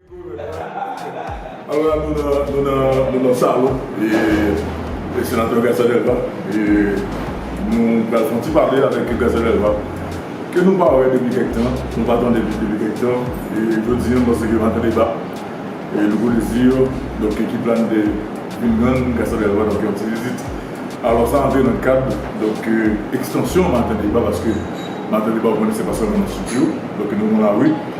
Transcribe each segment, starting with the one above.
Alò la nou nan nou nan nou nan salon e senatè García Delva e nou pral fon ti pale avèk García Delva ke nou pa wè depi kèk tan nou pa tande li depi kèk tan e jodi an m panse ke nou va tande ba e nouvo dezi yo donk ekip la nou te vin jwenn García Delva donk yon ti vizit alò sa antre nan kad donk ekstansyon maten deba paske maten deba ou konnen se pa sèlman nan studio donk nou nan lari.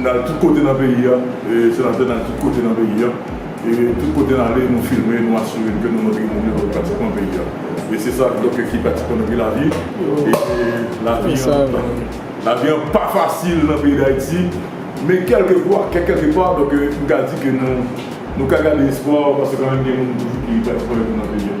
Nal tout kote nan peyi a, senatè nal tout kote nan peyi a, e tout kote nale nou filme nou asire ke nou montre moun yo pratikman peyi a. E se sa doke ki pratikman nan peyi lavi, e lavi an, lavi an pa fasil nan peyi dayiti, men kelke fwa, kek kelke pa, doke mka di ke nou ka gade espwa paske kanmenm gen moun toujou ki pratikman yo tou nan peyi a.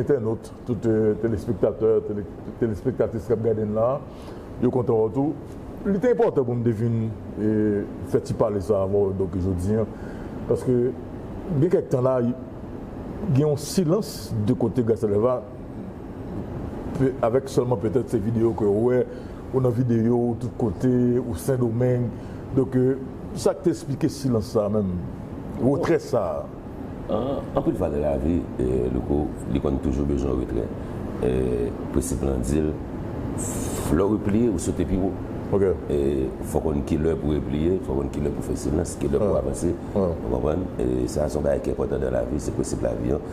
entènot, tout telespektatè, telespektatris k ap gade n la a, yo kontan wè w tou. Li te enpòtan pou m te vin fè ti pale sa a avè w donk jodi an paske gen kèk tan la gen yon silans de kote Gasalèva avèk sèlman petèt se videyo ke w wè, ou nan videyo, ou tout kote, ou Sendomeng donk sa k te esplike silans sa a menm, retrè sa a? Anpil fwa nan lavi, Louko, li konn toujou bezwen retrè. Prensip lan di l, lè w repliye, ou sote pi wo. Fò w konn ki lè pou w repliye, fò w konn ki lè pou w fè silans, ki lè pou w avanse. Ou konprann? Sa a se yon bagay ki enpòtan nan lavi, se prensip lavi an.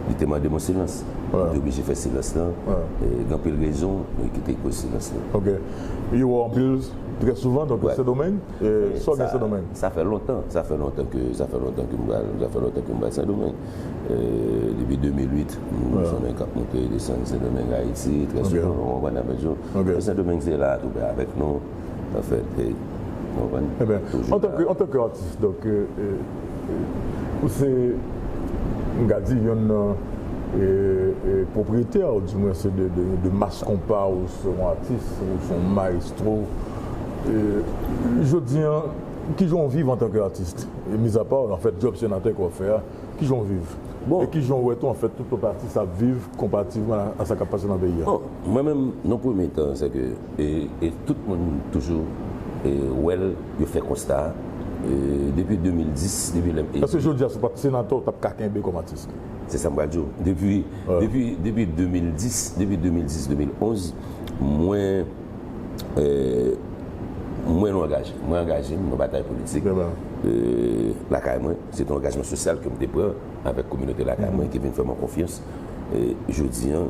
Li te mande mwen silans. Mwen te oblije fè silans lan. Gen anpil rezon ki te koz silans lan. Ok. Yo wè w anpil, trè souvan, donk nan Sendomeng? Sa w gen Sendomeng? Sa fè lontan, sa fè lontan ke, sa fè lontan ke m pa, sa fè lontan ke m pa Sendomeng. Depi 2008, m wè son nèg k ap monte e desann Sendomeng Ayiti trè souvan, ou konprann, nan Bèljiw. Men Sendomeng se la a tou prè avèk nou, an fèt, e, ou konprann, toujou la a. Antanke atis, donk, ou se, m ka di, yonn nan pwopriyetè, ou di mwen se de mas konpa, ou se yon atis, ou se yon maestro. Jodi an kijan ou viv antanke atis? Mizapa anfèt djòb senatè ke wap fè a, kijan ou viv? E kijan ou wè tou anfèt tout lòt atis ap viv konparativman a sa kap pase nan peyi a? Bon, mwen menm nan premye tan se ke e tout moun toujou wè l, yo fè konsta a, depi 2010, depi lè m eli. Eske jodi a si w pat senatè ou tap ka kenbe kòm atis? Se sa m pral di w. Depi, depi, depi 2010, depi 2010, 2011 mwen. Mwen nou angaje. Mwen angaje m nan batay politik lakay mwen. Se te yon angajman sosyal ke m te pran avèk kominote lakay mwen ki vin fè mwen konfyans. Jodi an,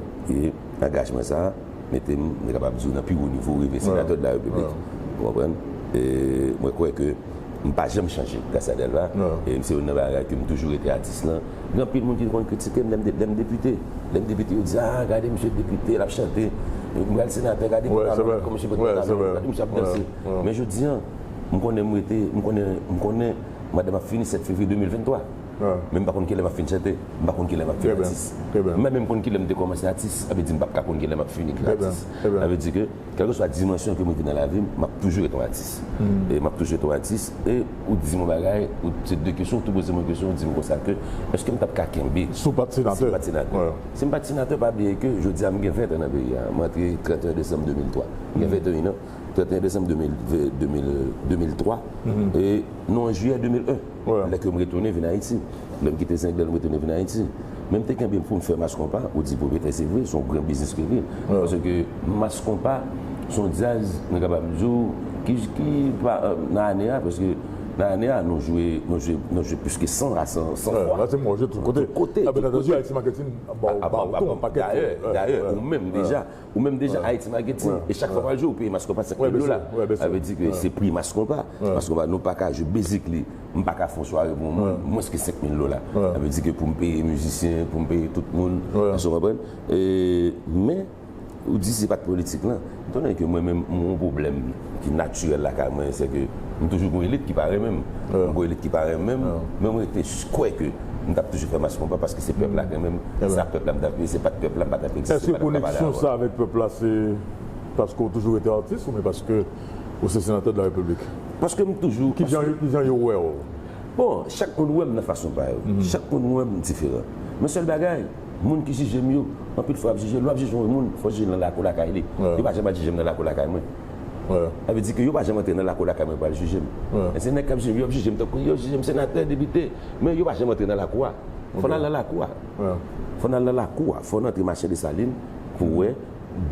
angajman sa a mete m, mwen kapab di w nan pi wo nivo, rive senatè de la Repiblik. Ou konprann? Mwen kwè ke. M pa janm chanje gras a Delva e se youn nan bagay ke m toujou rete atis lan. Gen anpil moun ki te konn kritike m lè m lè m depite. Lè m depite yo di a gade misye depite l ap chante, m pral senatè gade pantalon li kòman misye met pantalon l, gade misye ap danse. Men jodi an m konnen m rete m konnen m konnen madanm ap fini 7 fevriye 2023 men m pa konn kilè m ap fin chante, m pa konn kilè m ap fin atis. M pa menm konn kilè m te kòmanse atis sa vle di m pap ka konn kilè m ap fini atis. Sa vle di ke. Kèlkeswa dimansyon ke mwen te nan lavi m, map toujou ret yon atis. E map toujou ret yon atis. E ou di m yon bagay, ou se de kesyon, ou tou poze m yon kesyon, ou di m konsa ke, èske m tap ka kenbe. Si w pat senatè? Si m pat senatè. Si m pat senatè, pa bliye ke jodi a m gen 20 an nan peyi a. M antre 31 desanm 2003. M gen 21 an, 31 desanm 2003. E nou an jiyè 2001. Lè ke m retounen vin Ayiti. Lè m kite Zenglen m retounen vin Ayiti. Men m te kenbe pou m fè Mass Konpa. Ou di Pwopetè, se vre, se yon gran biznis ke l ye. Paske Mass Konpa, se yon djaz, mwen kapab di w, ki pa nan ane a, paske nan ane a nou jwe, nou jwe, nou jwe plis ke 100 a 100 fwa. Nan ane a nou jwe tout kote. Tout kote. Tout kote. Dayè, dayè, ou menm deja, Ou menm deja Haiti Marketing e chak fwa wap jwe ou peye mas konpa 5000 dola. Sa vle di ke se pri mas konpa. Mas konpa nou pa ka jwe basically m pa ka fè yon sware pou yon moun mwens ke 5000 dola. Sa vle di ke pou m peye mizisyen, pou m peye tout moun, èske w konprann? Men, ou di se pat politik lan. Etan done ke mwen menm m gen yon pwoblèm. ki natirèl lakay mwen se ke m toujou gen yon elit ki pa renmen m. Lè m gen yon elit ki pa renmen m, men mwen rete kwè ke m t ap toujou fè mach konpa paske se pèp la k renmen m. Se sa pèp la m t ap vle, se pa t pèp la m pa t ap egziste, m pa t ap pale avè l. Èske koneksyon sa avèk pèp la se paske w toujou rete atis oubyen paske w se senatè de la Repiblik? Paske m toujou. Ki jan yo wè w? Bon, chak moun wè m nan fason pa yo. Chak moun wè m diferan. Men sèl bagay. Moun ki jije m yo, anpil fwa y ap jije l. Lè w ap jije yon moun, fò w jije l nan lakou lakay li. Yo pa janm al jije m nan lakou lakay mwen. Sa vle di ke yo pa janm antre nan lakou lakay mwen pou y al jije m. Men se nèg k ap jije m yo, yo ap jije m tankou yo jije m senatè, depite. Men yo pa janm antre nan lakou a. Fò n al nan lakou a. Fò n al nan lakou a. Fò n antre Machan Desalin pou w wè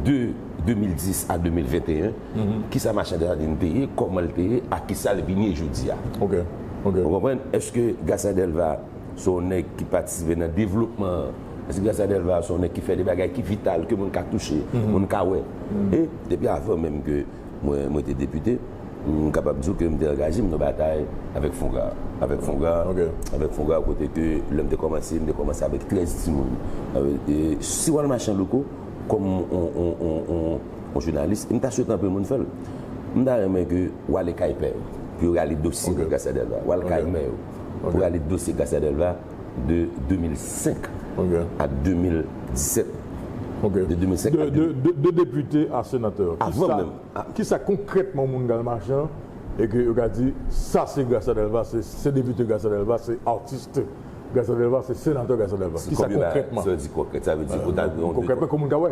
de 2010 a 2021, ki sa Machan Desalin te ye, kòman l te ye ak ki sa l vin ye jodi a. Ou konprann? Èske Gaston Delva. se yon nèg ki patisipe nan devlopman an. Paske Gracia Delva se yon nèg ki fè de bagay ki vital, ke moun ka touche, moun ka wè. E, depi avan menm ke mwen te depite, m kapab di w ke m te angaje m nan batay avèk FONGA. Avèk FONGA, avèk FONGA kote ke lè m te kòmanse, m te kòmanse avèk 13 timoun. E, si w al mache an loko, kòm yon jounalis, e m ta swete anpe moun fè l, m ta renmen ke w ale kay pè yo, pou yo rale dosye Gracia Delva. W al kay mè yo. pou rale dosye Garcia Delva de 2005 a 2017. De depite a senatè. Kisa konkrètman moun kal mache an e ke yo ka di sa se Garcia Delva, se depite Garcia Delva, se artiste Garcia Delva, se senatè Garcia Delva. Kisa konkrètman? Sa vle di konkrèt. Sa vle di ou ta gen yon. Konkrètman ke moun ka wè.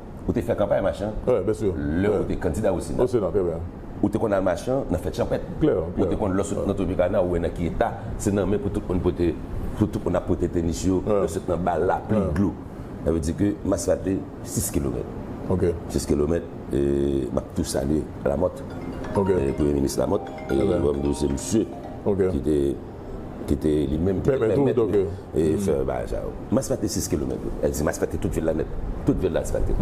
Ou te fè kanpay Machan lè ou te kandida o Sena. Ou te konn al Machan nan fèt chanpèt. Ou te konn lè w sot nan Tropicana ou wè nan ki eta se nan men pou tout moun pote pou tout moun ap pote tenis yo lè w sot nan bal lapli dlo. Sa vle di ke Maslate 6 kilomèt. 6 kilomèt e m ap tou salye Lamòt Premye Minis Lamòt e m di w se misye ki te ki te li menm ki te pèmèt li fè bagay sa yo. M asfakte 6 kilomèt yo. Èl di m asfakte tout vil la nèt. Tout vil la asfakte.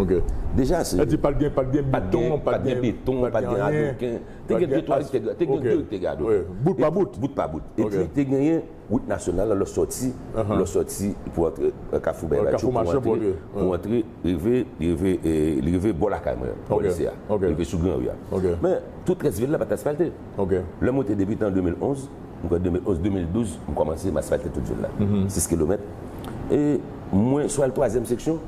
Deja se. Èl di pat gen, pat gen beton, pat gen. Pat gen beton, pat gen adoken. Te gen 2, 3 ki te. Te gen 2 ki te gen adoken. Bout pa bout. Bout pa bout. E pi te genyen wout nasyonal la lè w soti, lè w soti pou antre kafou bèy latyou pou antre. Kafou machan pou antre. Rive, rive, li rive bò lakay mwen. Bò lise a. Rive sou gran ri a. Men tout rès vil la pat asfalte. Ok. Lè mwen te debitan an 2011, m kwè 2011, 2012 m kòmanse, m asfalte tout zòn la. 6 kilomèt. E mwen sou al twazyèm seksyon,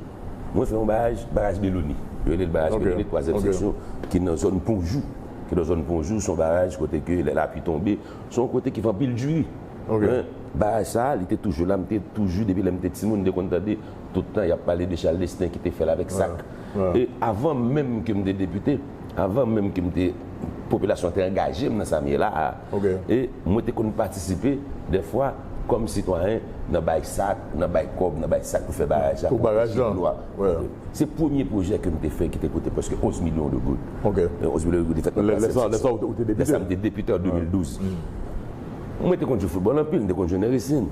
mwen fè yon baraj, baraj Beloni. Yo rele l baraj Beloni twazyèm seksyon ki nan zòn Ponjou. Ki nan zòn Ponjou, son baraj kote ke lè lapli tonbe, son yon kote ki fè anpil diri. Men, baraj sa a, li te toujou la, m te toujou depi lè m te timoun m te konn tande tout tan y ap pale de Chal Desten ki te fè l avèk sak. E avan menm ke m te depite, avan menm ke m te popilasyon an te angaje m nan sa m ye la a e mwen te konn patisipe dèfwa kòm sitwayen nan bay sak, nan bay kòb, nan bay sak pou fè baraj la pou baraj lan se premye pwojè ke m te fè ki te koute prèske 11 milyon de goud 11 milyon de goud te fèt nan plasè lè sa ou te depite lè sa m te depite an 2012 mwen te konn jwe foutbòl anpil m te konn jwe nan resin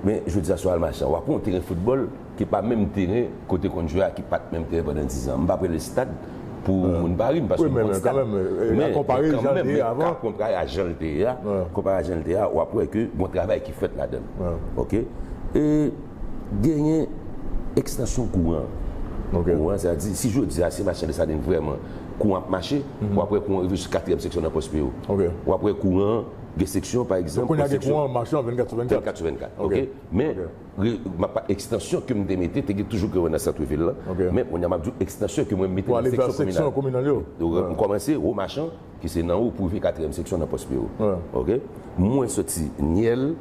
men jodi a sou al machan w ap pran yon teren foutbòl ki pa menm teren kote konn jwe a ki pat menm teren pandan 10 an m pa prele stad pou moun Paris m paske m konn stad men kanmenm men ka konpare a janl te ye a konpare a janl te ye a wap wè ke gon travay ki fèt ladann ok e genyen ekstansyon kouran kouran sa di si jodi a se machan desalin vrèman kouran ap mache wap wè kouran rive sou katriyèm seksyon nan pòs peyo wap wè kouran gen seksyon pa egzanp kounya gen kouran machan 24 sou 24 men Map pa ekstansyon ke m te mete te gen toujou Grewè nan centre ville lan men kounye a map di w ekstansyon ke mwen mete nan seksyon kominal yo m kòmanse Ro Machan ki se nan ou pou rive katriyèm seksyon nan Pòspero ok mwen soti Nyèl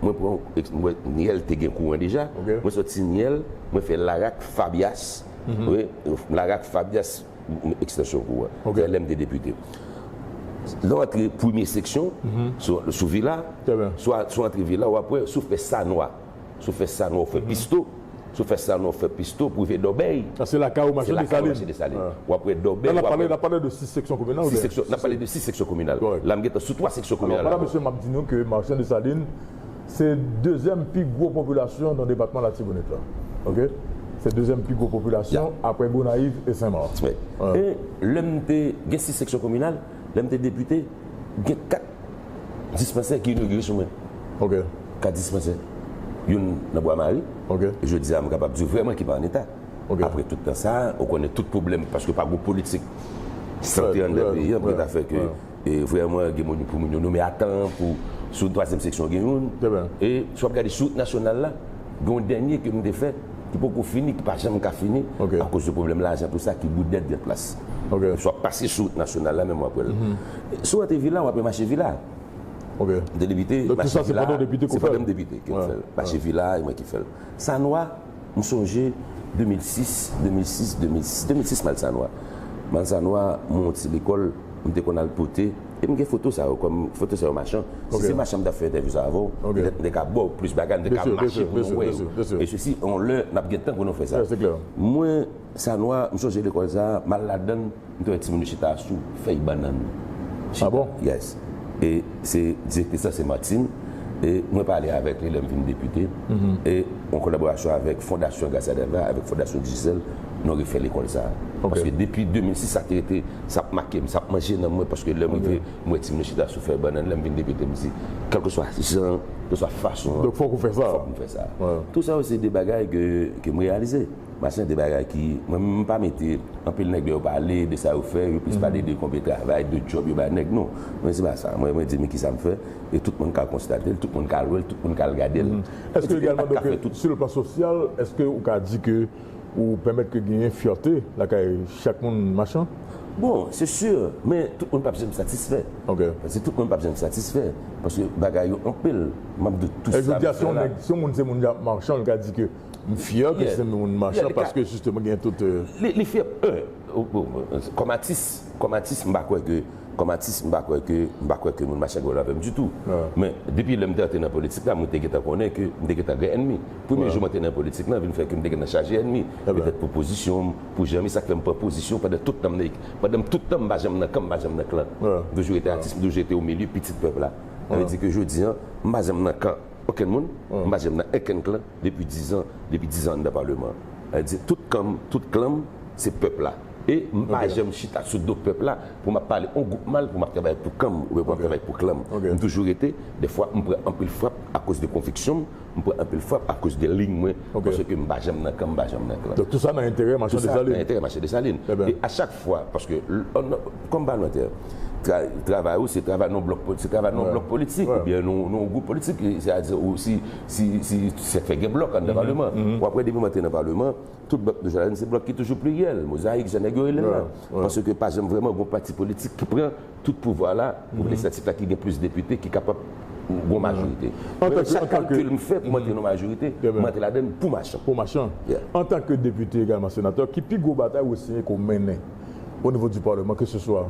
mwen pran mwen Nyèl te gen kouran deja mwen soti Nyèl mwen fè Larak Fabyas ok Larak Fabyas. m ekstansyon kou a. Ok. Lè m te depite. Lè w antre premye seksyon, sou vila, Trè byen. swa sou antre vila w ap wè, sou fè sa nwa, sou fè sa nwa w fè pisto, sou fè sa nwa w fè pisto pou rive Dòbèy, Sa se lakay ou mache se lakay w Desalin. mache Desalin. Ah. W ap wè Dòbèy, Lè n w ap ap pale, wè n ap pale de 6 seksyon kominal ou 6 byen? seksyon, n ap pale de 6 seksyon kominal. Kòrèk. Lè m gen tan sou 3 seksyon Alò, kominal la. madan mesye, m ap di nou ke Marchand Dessalines, Se dezyèm pi gwo popilasyon nan depatman Latibonit la. Ok. Se dezyèm pi gwo popilasyon aprè Gonayiv e Sen Mak. E lè m te gen 6 seksyon kominal, lè m te depite, gen 4 dispansè ki inogire sou mwen. Ok. 4 dispansè. Youn nan Bwa Mari. Ok. Jodi a m kapab di w vrèman ki pa an eta. Ok. Aprè tout tan sa a, ou konnen tout pwoblèm paske pa gwo politik sante anndan peyi an pou ki ta fè ke vrèman gen moun pou moun yo nome a tan an pou sou twazyèm seksyon gen youn e si w ap gade sou wout nasyonal la gen yon dènye ke nou te fè ki poko fini ki pa janm ka fini akoz de pwoblèm lajan tou sa ki Goodnet Gen Plas si w ap pase sou wout nasyonal la menm w ap wè l si w antre vila w ap wè mache vila m te debite mache vila se pa menm depite ki te fè l mache vila e mwen ki fè l sanwa. M sonje 2006, 2006, 2006, 2006 Malsanwa. Malsanwa mwen yon ti lekòl m te konn al pote e m gen foto sa yo kòm foto se yon machan. Si se machan m t ap fè entèvyou sa avè w, petèt m te ka ba w plis bagay, m te ka mache pou nou wè yo e sesi yon lè n ap gen tan pou nou fè sa. Mwen. Sa nwa, m sonje lekòl sa, m al ladan l, m te wè timoun yo chita sou fèy bannann. Chita. Ah bon? Yes. E se direktris lan se Martine e mwen pale avèk li lè m vin depite e an kolaborasyon avèk Fondasyon Garcia Delva avèk Fondasyon Digicel nou refè lekòl sa. Paske depi 2006 sa te rete, sa ap make m, sa ap manje nanm mwen paske lè m rive m wè timoun yo chita sou fèy bannann lè m vin depite m di kèlkeswa jan, kèlkeswa fason an, fòk m fè sa. Tou sa yo se de bagay ke m reyalize. Machin de bagay ki, mwen menm m pa mete, anpil nèg lè yo pale de sa yo fè, yo plis pale de konbe travay, de djòb yo bay nèg. Non, mwen se pa sa. Mwen mwen di men kisa m fè, e tout moun ka konstate l, tout moun ka al wè l, tout moun ka al gade l. Èske egalman donk sou le plan sosyal, èske ou ka di ke ou pèmèt ke genyen fyète lakay chak moun machan? Bon, se si, men tout moun p ap janm satisfè. Ok. Paske tout moun p ap janm satisfè. Paske bagay yo anpil. M ap di w tou sa m fè la. Jodi a si yon nèg, si yon moun se moun machan, l ka di ke. M fyè ke se yon machan paske jisteman gen tout. Li fyè kòm atis, kòm atis m pa kwè ke, kòm atis m pa kwè ke, m pa kwè ke moun machan gòl avè m ditou. Men depi lè m te antre nan politik la mwen te gentan konnen ke m te gentan gen ènmi. Premye jou m antre nan politik lan vin fè ke m te gentan chaje ènmi. Petèt pou pozisyon m, pou jan m ye sa k fè m pran pozisyon pandan tout tan m nan, pandan tout tan m pa janm nan kan m pa janm nan klan. M toujou rete atis, m toujou rete o milye pitit pèp la. Sa vle di ke jodi an m pa janm nan kan. Okenn moun, m pa janm nan enkenn klan depi dizan, depi dizan anndan palman an. Di tout kan m, tout klan m, se pèp la. E m pa janm chita sou do pèp la pou m ap pale on gwoup mal, pou m ap travay pou kan m oubyen pou m ap travay pou klan m. M toujou rete, dèfwa m pran anpil frap akoz de konviksyon m, m pran anpil frap akoz de liy mwen, paske m pa janm nan kan, m pa janm nan klan. Donk tou sa nan enterè Machan Desalin. Tou sa nan enterè Machan Desalin. E a chak fwa, paske. Kòm palmantè, travay ou se travay nan yon blòk politik oubyen nan yon gwoup politik, se a di ou si se fè gen blòk anndan palman, w ap wè depi mwen te nan palman, tout blòk nou jwenn ladan se blòk ki toujou pliryèl, mozayik jan nèg yo rele l lan, paske pa janm vrèman gen yon pati politik ki pran tout pouvwa la pou lejislatif la ki gen plis depite ki kapab gen yon majorite. Mwen chak kalkil m fè pou m antre nan yon majorite, m antre ladan l pou machan. Pou machan. Antanke depite egalman senatè, ki pi gwo batay Wesline Ko mennen? o nivo di paleman ke se swa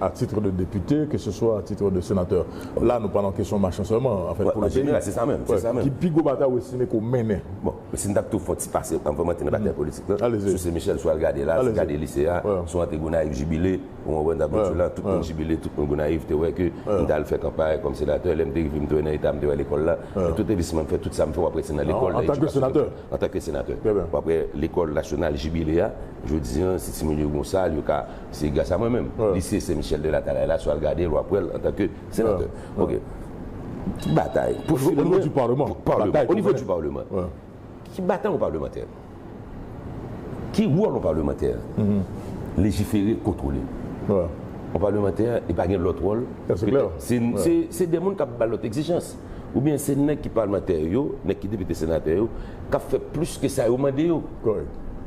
a titre de depite ke se swa a titre de senatè la nou pale an kesyon machan sèlman an fèt pou le peyi ki pi gwo batay ou estime ke ou mennen? Bon si m ta pito fon ti pase anvan m antre nan batay politik lan sou se Michel sou al gade la sou gade lise a sou antre Gonayiv jibile ou konprann sa bòt sou la tout moun jibile tout moun Gonayiv te wè ke m ta al fè kanpay kòm senatè lè m te rive m te wè nan eta m te wè lekòl la men tout envestisman m fè tout sa m fè ou ap wè se nan lekòl antanke senatè w ap wè lekòl nasyonal jibile a Jodi an, si timoun yo gen yon sal, yo ka, se gras a mwen menm. Lise Sen Michèl de Latalay la, si w al gade l, w ap wè l antanke senatè. Ok. Ki batay? Onivo di paleman. Paleman. Onivo di paleman. Ki batay yon palemantè? Ki wòl yon palemantè? Lejifere, kontwole. Yon palemantè, li pa gen lòt wòl. Se klè. Se de moun k ap bay lòt egzijans. Oubyen se nèg ki palmantè yo, nèg ki depite senatè yo, k ap fè plis ke sa yo mande yo.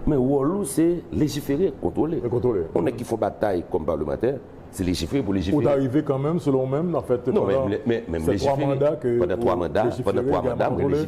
Men wòl ou se lejifere, kontwole. Yon nèg ki fon batay kòm palmantè, se lejifere pou lejifere. Ou ta rive kanmenm, selon ou menm, nan fèt pandan se 3 manda ke ou lejifere egalman kontwole?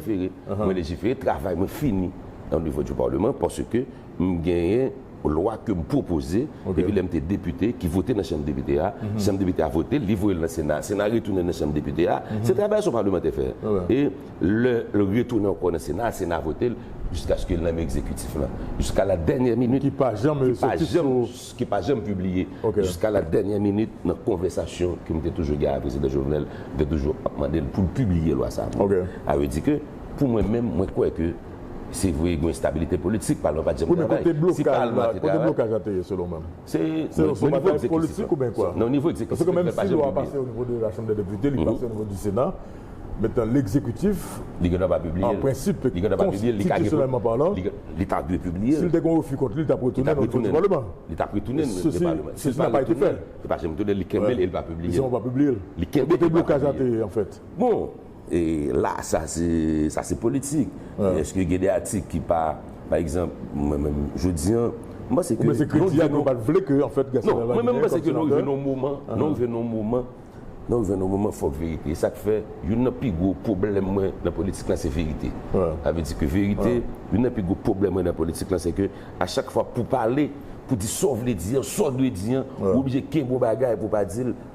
Mwen lejifere, travay mwen fini o nivo di palman paske m genyen lwa ke m pwopoze depi lè m te depite ki vote nan chanm depite a, chanm depite a vote l, li voye l nan sena a, sena a retounen l nan chanm depite a, se travay sa w palmantè fè e lè l retounen ankò nan sena a, sena a vote l jiskaske l nan men egzekitif lan jiska la dènyè minit ki pa janm ki pa janm pibliye jiska la dènyè minit nan konvèsasyon ke m te toujou gen avèk prezidan Jovenel m te toujou ap mande l pou l pibliye lwa sa a vre a vle di ke pou mwen menm mwen kwè ke. Se vre gen enstabilite politik, palman pa janm travay. Kounye kote blokaj la, kote blokaj la te ye selon mèm? Se yon batay politik ou byen kwa? Nan nivo ekzekitif. Paske menm si lwa pase o nivo de la chanm de depite, li pase o nivo di sena, men tan lekzekitif, an prensip, konstitisyonèlman palan, si l te gon refi kont li, li tap retounen o nivo di palman. Li tap retounen o nivo di palman. Sesi nan pa ete fè. Li pa janm retounen, li kenbe l e li pa pibliye l. Li kenbe l e li pa pibliye l. Kote blokaj la te ye anfèt? Bon! E la sa se sa se politik. Eske gen de atik ki pa pa egzanp mwen menm jodi an m panse ke. Ou panse kredi a nou pat vle ke anfèt Gaston Delavigne gen kòm senatè? Non, mwen menm m panse ke nou rive nan yon moman, nou rive nan yon moman, nou rive nan yon moman fòk verite. E sa k fè youn nan pi gwo pwoblèm mwen nan politik lan se verite. Sa vle di ke verite, youn nan pi gwo pwoblèm mwen nan politik lan se ke a chak fwa pou pale, pou di sa w vle di an, sa w dwe di an, ou oblije kenbe yon bagay pou w pa di l.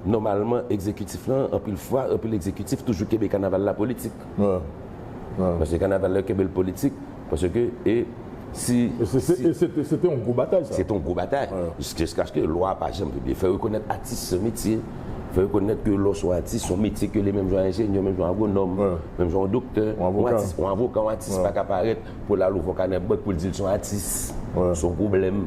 Nòmalman egzekitif lan, anpil fwa, anpil egzekitif toujou kenbe kanaval la politik. Paske kanaval la yo kenbe l politik, paske e si, si. E se te, se te yon gwo batay sa. Se te yon gwo batay. Jiskaske lwa a pa janm pibliye. Fè rekonèt atis se yon metye. Fè rekonèt ke lè w se yon atis, se yon metye ke li menm jan yon enjenyè, menm jan yon agwonòm, menm jan yon doktè, yon atis, yon avoka, yon atis pa ka parèt Pou lal ouvon kanè bank poul dil son atis son pwoblèm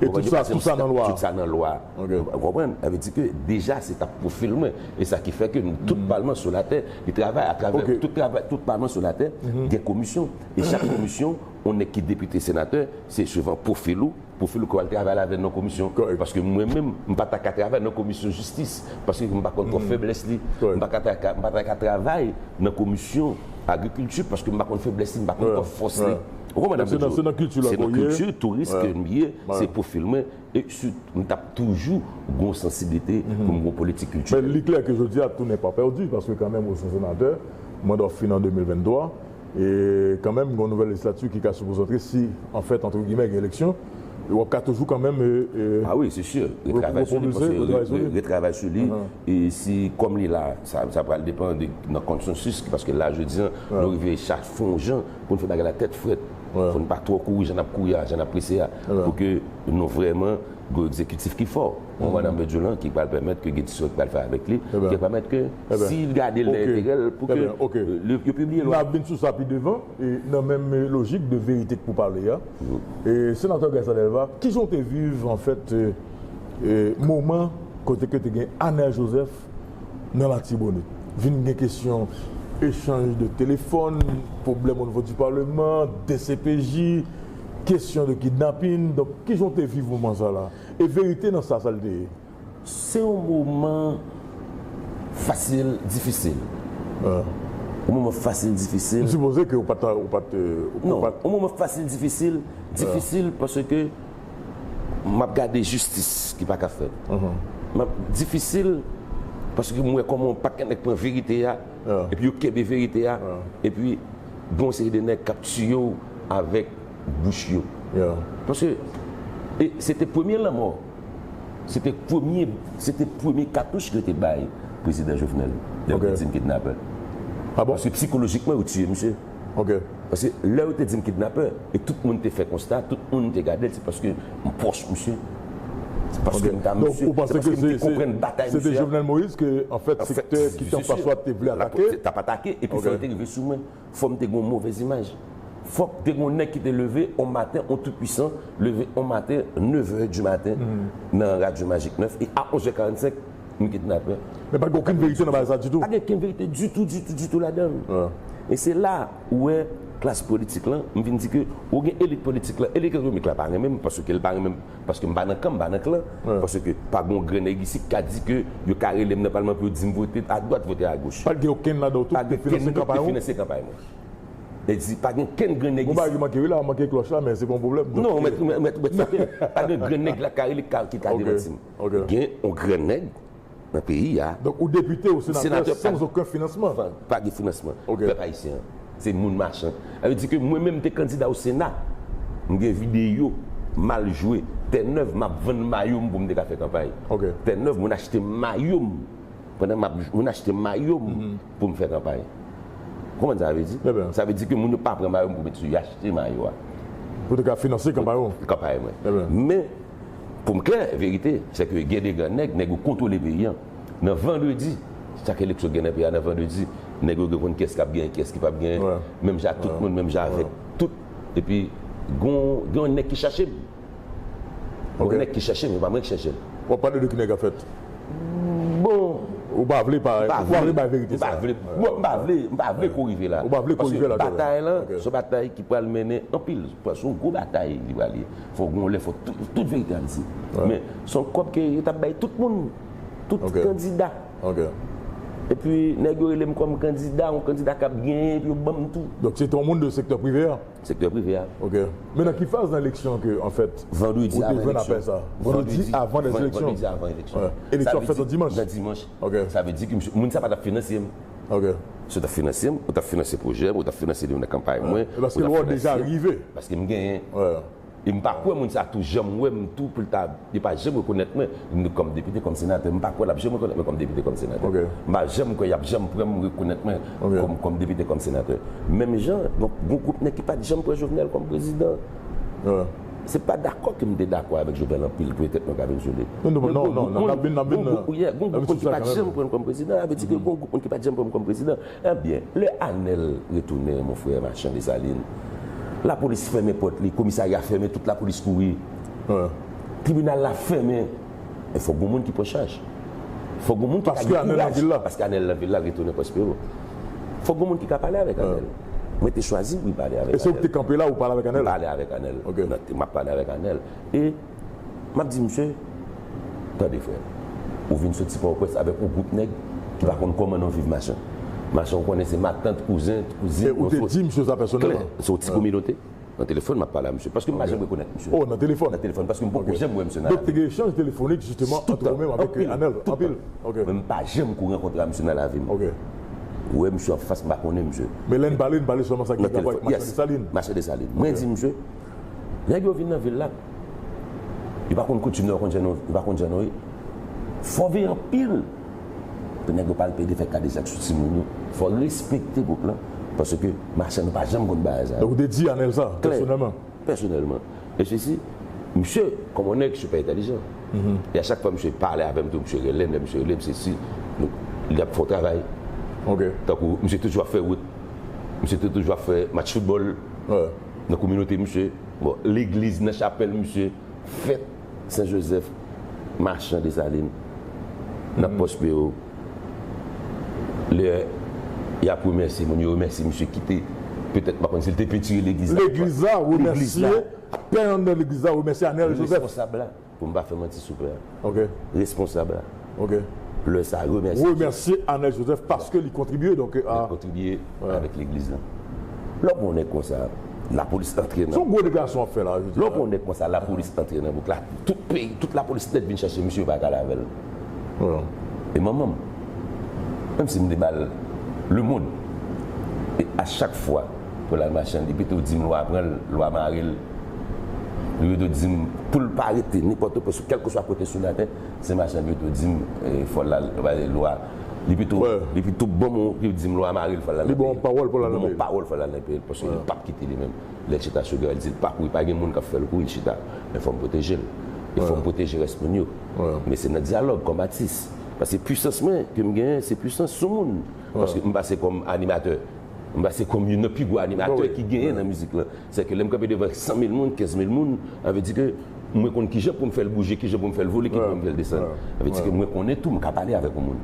e tout sa tout sa nan lwa tout sa nan lwa ou konprann sa vle di ke deja se tap pwofil mwen e sa ki fè ke nou tout palman sou latè li travay atravè tout travay tout palman sou latè gen komisyon e chak komisyon ou nèg ki depite senatè se suvan pwofil ou. Pou Philco al travay la vè nan komisyon Kòl paske mwen menm m pa ta ka travay nan komisyon jistis paske m pa konn twòp fèblès li m pa ka m pa ta ka travay nan komisyon agrikilti paske m pa konn fèblès li m pa konn twòp fòs li ou konprann sa m vle di se nan kilti la ke w ye se nan kilti touris ke m ye se pwofil mwen e si m t ap toujou gon sansiblite pou m gon politik kiltirèl. Men li klè ke jodi a tounen pa pèdi paske kanmenm ou se senatè manda w fini an 2023. E kanmenm gen yon nouvèl lejislati ki ka sipoze antre si an fèt antre gimè gen eleksyon e wap ka toujou kanmenm e. A wi se si, retravay sou li paske retravay sou li e si kòm li la sa pral depan de nan konsansis ki paske la jodi an nou rive chak fè yon jan pou nou fè bagay la tèt frèt pou nou pa twò kouri jan nap kouri a jan nap prese a pou ke nou vrèman gen yon egzekitif ki fò. pou Madan Bedjine lan ki pral pèmèt ke gen ti swen ki pral fè avèk li ki ap pèmèt ke si l gade l nan enterè l pou ke yo pibliye lwa. N ap vin sou sa pi devan. E nan menm lojik de verite k pou pale a, Senatè Gaëtan Delva, ki jan w te viv anfèt moman kote ke te gen Anel Joseph nan Latibonit? Vin gen kesyon echanj de telefòn, pwoblèm onivo di paleman, dcpj, kesyon de kidnapin. Donk, ki jan w te viv moman sa la? E verite nan sa sa li te ye. Se yon moman fasil difisil. Yon moman fasil difisil. M sipoze ke ou pa t ou pa t. Non, yon moman fasil difisil, difisil paske m ap gade jistis ki pa ka fèt. M ap difisil paske m wè kòman yon pakèt nèg pran verite a epi yo kenbe verite a epi gen yon seri de nèg k ap tiye w avèk. bouch yo yeah. Paske e se te premye lanmò, se te premye se te premye katouch yo te bay prezidan Jovenel lè yo te di n kidnapè. Ah bon? Paske psikolojikman yo tiye misye. Ok. Paske lè yo te di n kidnapè e tout moun te fè konsta, tout moun te gade l se paske m pwòch misye, se paske m ta misye, se paske m te konprann batay misye a. Donk ou panse ke se te Jovenel Moïse ke anfèt sektè ki te anfas ou a te vle atake? T ap atake epi fè yo te rive sou mwen. Fòm te gen yon movèz imaj. Fòk te gen yon nèg ki te leve yon maten, yon tout-pwisan leve yon maten nevè di maten nan radyo Magik 9 e a onzè karannsenk nou kidnapè. Men pa t gen okenn verite nan bagay sa ditou. Pa gen okenn verite ditou, ditou, ditou ladan l. E se la ou wè klas politik lan, m vin di ke ou gen elit politik lan, elit ekonomik la pa renmen m paske l pa renmen m. Paske m pa nan kan, m pa nan klan. Paske pa gon grenn nèg isi ki ka di ke yo ka rele m nan palman pou yo di m vote adwat, vote agoch. Pa gen okenn ladan yo, tout te finanse kanpay ou? Tout te finanse kanpay mwen. Nèg di, pa gen okenn grenn nèg isi. Gon bagay ki manke wi la, manke klòch la men se pa yon pwoblèm. Non, ou mèt, ou mèt, ou mèt frape m. Pa gen grenn nèg la ki ka rele, ki ka demanti m. Gen yon grenn nèg. nan peyi a. Donk ou depite ou senatè san zoken finansman? Pa gen finansman. Pèp ayisyen an se moun machan. Sa vle di ke mwen menm m te kandida o sena, m gen videyo m al jwe tè nèv m ap vann mayo m pou m te ka fè kanpay. Tè nèv mwen achte mayo m pandan m ap mwen achte mayo m pou m fè kanpay. Ou konprann sa sa vle di? Sa vle di ke moun yo pa pran mayo m pou met sou yo, yo achte mayo a. Pou te ka finanse kanpay ou? Kanpay mwen. Men. Pou m klè, verite, se ke gen de gran nèg, nèg yo kontwole peyi an. Nan vandredi, chak eleksyon gen nan peyi a, nan vandredi, nèg yo gen konn ki es kap genyen, ki es ki pap genyen, menm jan ak tout moun, menm jan avèk tout. E pi, gon, gen yon nèg ki chèche m. Gen yon nèg ki chèche m, e pa mwen ki chèche l. Wap pale de ki nèg an fèt? Bon. Ou pa vle pa, ou pa vle bay verite sa. M pa vle, bon, m pa vle, m pa vle kou rive la. Ou pa vle kou rive la. Batay lan, se yon batay ki pral mennen anpil, se yon gwo batay li pral ye. Fok gon lè fok tout verite a di. Men son kob ke yo tap bay tout moun. Tout kandida. Epi neg yo relem kom kandida, yon kandida kap genyen epi yo banm tou. Donk se te yon moun de sektè prive a? Sektè prive a. Ok. Men nan ki faz nan eleksyon an ke anfèt ou te jwenn apèl sa? Vandredi avan eleksyon. Vandredi avan eleksyon. Eleksyon an fèt yon dimanch. Yon dimanch. Ok. Sa vle di ke moun sa pa tap finansyem. Ok. Si w t ap finanse m, ou t ap finanse pwojè m, ou t ap finanse li nan kanpay mwen. E paske lwa w deja rive. Paske m genyen. Wè. E m pa kwè moun sa tou janm wè m tou pou l ta, li pa janm rekonèt mwen kòm depite, kòm senatè. M pa kwè l ap janm rekonèt mwen kòm depite, kòm senatè. Ok. M pa janm kwè y ap janm pran m rekonèt mwen kòm depite, kòm senatè. Menm jan, gon gwoup nèg ki pa t janm pran Jovenel kòm prezidan. Wè. Se pa dakò ke m te dakò avèk Jovenel anpil ke tèt mwen ka vin sove. Men gon gwoup moun, gon gwoup moun ki pat janm pran l kòm prezidan. Sa vle di ke gon gwoup moun ki pat janm pran m kòm prezidan. Ebyen, lè Anèl retounen, mon frè Machan Desalin, lapolis fèmen pòt li, komisarya fèmen, tout lapolis kouri. Tribinal la fèmen. Men fòk gon moun ki pran chaj. Fòk gon moun ki ka gen kouraj. Paske Anèl nan vil la. Retounen Pwòspero. Fòk gon moun ki ka pale avèk Anèl. Mwen te chwazi wi pale avèk Anèl. E se ou ki te kanpe la ou pale avèk Anèl? Mwen pale avèk Anèl. Ok. M ap pale avèk Anèl. E m ap di misye, Tande frè. Ou vin soti Pòtoprens avèk yon gwoup nèg ki pa konn kòman non viv machan. Machan ou konnen se matant, kouzen, kouzin. E ou te di misye sa pèsonèlman? Klè. Se yon ti kominote. Nan telefòn map pale a misye. Paske m pa janm rekonèt misye. Oh nan telefòn. Nan telefòn paske m poko janm wè misye nan lavi. Donk te gen echanj telefonik jisteman antre ou menm avèk Anèl. Anpil. Ok. Men m pa janm ko rankontre a misye nan lavi m. Ok. Wè misye an fas m pa konnen misye. Men lè n pale n pale sèlman sa ki gen rapò ak Machan Desalin. Yes. Machan Desalin. Mwen di misye, nèg yo vin nan vil la. Yo pa konn koutim nan yo konn jan nou yo pa konn jan nou ye. Fò veye anpil. Pou nèg yo pa al plede fè kadejak sou timoun yo. Fò respekte gwoup lan. Paske machann yo pa janm konn bagay sa yo. Donk ou te di Anèl sa, pèsonèlman? Pèsonèlman. E se si, misye, kòm on nèg sipè entèlijan. E a chak fwa misye pale avè m tou, misye rele m, lè misye rele m se si, nou, li ap fè on travay. Ok. Tankou, misye toujou ap fè wout. Misye te toujou ap fè match foutbòl. Nan kominote misye. Bon, legliz, nan chapèl misye, fèt. Sen Jozèf, Machan Desalin, nan pòs yo yo, lè y ap remèsye moun, yo remèsye misye ki te, petèt m pa konnen si l te pentire legliz la, legliz la, remèsye pè anndan legliz la, remèsye Anèl Jozèf. Responsab la, pou m pa fè manti sou pè a, responsab la. Ok. Lè sa remèsye Dieu. Remèsye Anèl Joseph paske li kontribye donk a. Li kontribye avèk legliz lan. Lè w pran yon nèg konsa lapolis antre nan. Son gwo deklarasyon wap fè la jodi a. Lè w pran yon nèg konsa lapolis antre nan bouk la tout peyi tout lapolis nèt vin chache misye yo pa ka ale avèl. E manman m. Menm si m te bal le mond. E a chak fwa pou lal mache an li pito dim lwa pran l lwa mare l. Li pito dim poul pa rete nenpòt kèlkeswa kote sou latè Se machan pito dim fòl la vale lwa li pito li pito banm on li dim lwa maril fòl la li banm on pawòl fòl la li banm on pawòl fòl la nan peyil paske li pap kite li menm lè chita sou gèl dil pa kouri pa gen moun kap fèl kouri chita men fòm pwotejel e fòm pwoteje rès moun yo men se nan dyalòg kòm atis paske pwisans mwen kem genyen se pwisans sou moun paske m pase kòm animatè m pase kòm youn nan pi gwo animatè ki genyen nan mizik lan Sèke lè m kanpe devan sanmil moun, kenzmil moun, sa vle di ke mwen konn ki jan pou m fè l bouje, ki jan pou m fè l vole, ki jan pou m fè l desann. Sa vle di ke mwen konnen tou m ka pale avèk yon moun.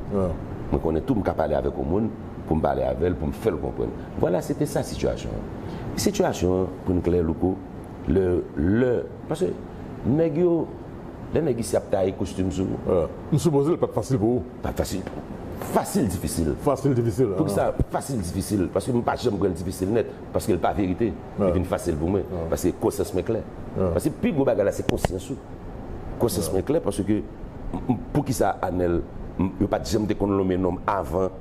Mwen konnen tou m ka pale avèk yon moun pou m pale avè l, pou m fè l konprann. Vwala, se te sa sitiyasyon an. Sitiyasyon an, pou n klè, Louko, lè, lè, paske nèg yo, lè nèg isi ap taye kostim sou ou. M sipoze l pa t fasil pou ou. Pa t fasil pou m. Fasil difisil. Fasil difisil. Poukisa fasil difisil? Paske m pa janm pran l difisil nèt. Paske l pa verite, li vin fasil pou mwen. Paske konsyans mwen klè. Paske pi gwo bagay la se konsyans ou. Konsyans mwen klè paske poukisa Anèl yo pa t janm te konn lonmen nonm avan.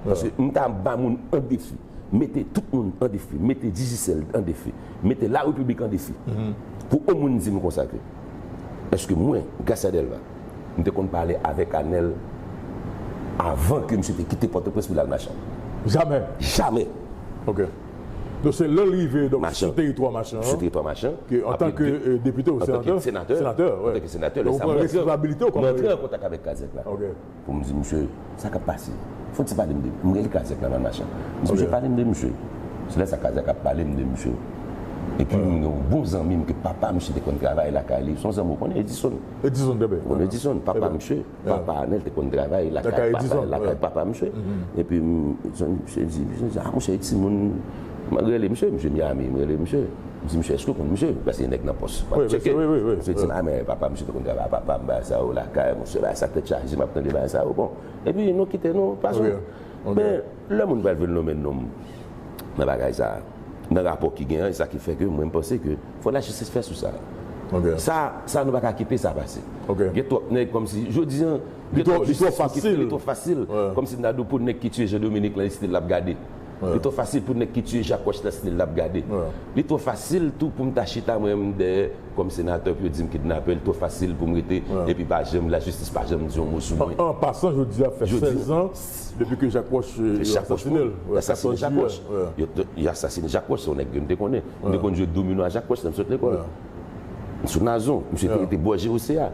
Paske m ta ba moun an defi. Mete tout moun an defi. Mete Digicel an defi. Mete Larepiblik an defi. Pou on moun di m konsa ke. Eske mwen, Gracia Delva, m te konn pale avèk Anèl avan ke misye te kite Pòtoprens pou l al Machan? Jamè! Jamè! Ok. Donk se lè l rive donk sou teritwa Machan an, sou teritwa Machan, ke antan ke depite ou senatè, antan ke senatè, antan ke senatè, lè sa mwen antre an kontak avèk Kazèk la. Ok. Pou m di misye, sa k ap pase? Foti pale m de misye. M rele Kazèk la nan machin. M di misye, pale m de misye. Se lè sa Kazèk ap pale m de misye. Epi m gen yon bon zanmi m ke papa misye te konn travay lakay li. Se yon zanmi ou konnen, Edison. Edison, trè byen. Ou konnen Edison, papa misye. Papa Anèl te konn travay lakay papa misye. Epi m di misye, a misye e timoun. M rele misye, misye Miyami, m rele misye. M di misye, èske ou konn misye? Paske gen nèg nan pòs. M ap tcheke. Misye di m, a men papa misye te konn travay ak papa m, bagay sa yo, lakay mwen. Bagay sa tèt chaje, m ap tande bagay sa yo. Bon, epi nou kite nou pase. Men, lè moun pral vin lonmen nonm nan bagay sa a, nan rapò ki gen an, e sa ki fè ke mwen m panse ke fò lajistis fè sou sa. Sa, sa nou pa ka kite sa pase. Gen twòp nèg kòmsi, jodi an, gen twòp jistis ki fèt, li twò fasil. Kòmsi Dadou pou nèg ki tiye Jean Dominique lan, li se li l ap gade. Li twò fasil pou nèg ki tiye Jacques Roche nan snil la ap gade. Li twò fasil tou pou m ta chita mwen menm dèyè kòm senatè pou yo di m kidnapè. Li twò fasil pou m rete epi pa janm, lajistis pa janm di yon mo sou mwen. An pasan, jodi a fè 16 zan depi ke Jacques Roche yo asasine l. Yo asasine Jacques Roche. Yo asasine Jacques Roche. Se yon nèg ke m te konnen. M te konn jwe domino a Jacques Roche lè m sot lekòl. Sou Nazon. Misye te rete bò JOC a.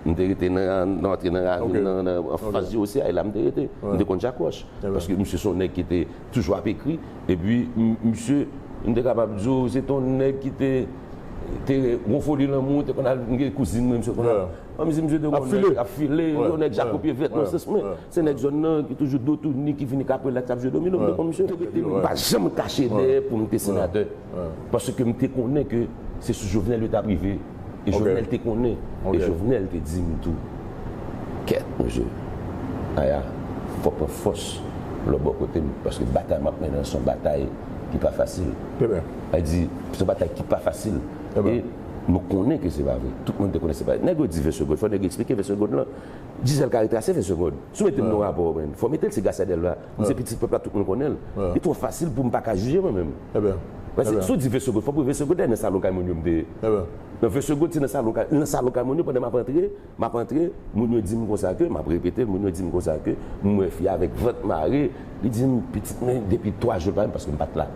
M te rete nan antre nan ravin nan anfas JOC a. E la m te rete. M te konn Jacques Roche. Paske misye se yon nèg ki te toujou ap ekri. Epi misye, m te kapab di w, se te yon nèg ki te gen yon foli lanmou, te konn al, m gen kouzin mwen, misye konn al an vizit, misye te konn al ap file, yon nèg jako pye vèt nan sans mwen. Se nèg zòn nan ki toujou do touni, ki vini kap relaks, ap jwe domino, m te konn misye. M pa janm kache dèyè pou m te senatè. Paske m te konnen ke se sou Jovenel yo t ap rive. E Jovenel te konnen. E Jovenel te di m tou. Kèt poze w Aya, ou fòk pran fòs lò bò kote m paske batay m ap mennen an se yon batay ki pa fasil. Aya di, Se yon batay ki pa fasil e nou konnen ke se pa vre. Tout moun te konnen se pa vre. Nèg yo di vese gòd, fò nèg yo eksplike vese gòd lan. Gisèle ka retrase vese gòd. Si w mete m nan yon rapò, fò w mete l se Gracia Delva. Li se pitit pèp la, tout moun konnen l. Li twò fasil pou m pa ka jije mwen menm. Mwen se, si w di vesegond, fò w pou vesegond dèyè nan salon kay moun yo m te ye. Nan vesegond se nan salon kay, nan salon kay moun yo pandan m ap antre, m ap antre, moun yo di m konsa ke, m ap repete l, moun yo di m konsa ke, m wè fi a avèk vant mare, li di m, pitit mwen depi 3 jou l pa vin paske m pa t la.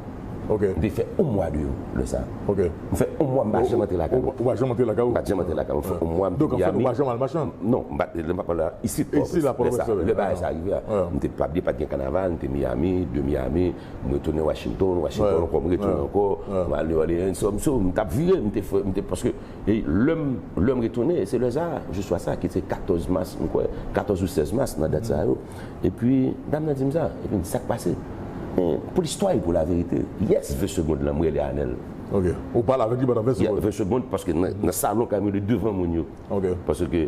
M te fè yon mwa de yo lè sa. M fè yon mwa m pa janm antre lakay mwen. Ou pa janm antre lakay ou? M pa t janm antre lakay mwen. M fè yon mwa m te Miyami. Donk anfèt ou pa janm al machan? Non, m pa t, lè m ap pale la, isit Pòtoprens. Isit la Pòtoprens. Lè bagay sa rive a. M te, pa bliye pa t gen kanaval, m te Miyami, de Miyami, M retounen Washington, Washington ankò, m retounen ankò, m al New Orleans, so m so m t ap vire, m te fre, m te paske e lè m lè m retounen se lè sa a, jou swa sa a ki se 14 mas m kwè, 14 ou 16 mas nan dat sa yo. Epi dam nan di m sa, epi m di sa k pase? Gen pou listwa e pou laverite. Yes 20 segond lan m rele Anèl. Ok. Ou pale avèk li pandan 20 segond? Yeah 20 segond paske nan salon kay mwen li devan moun yo. Ok. Paske.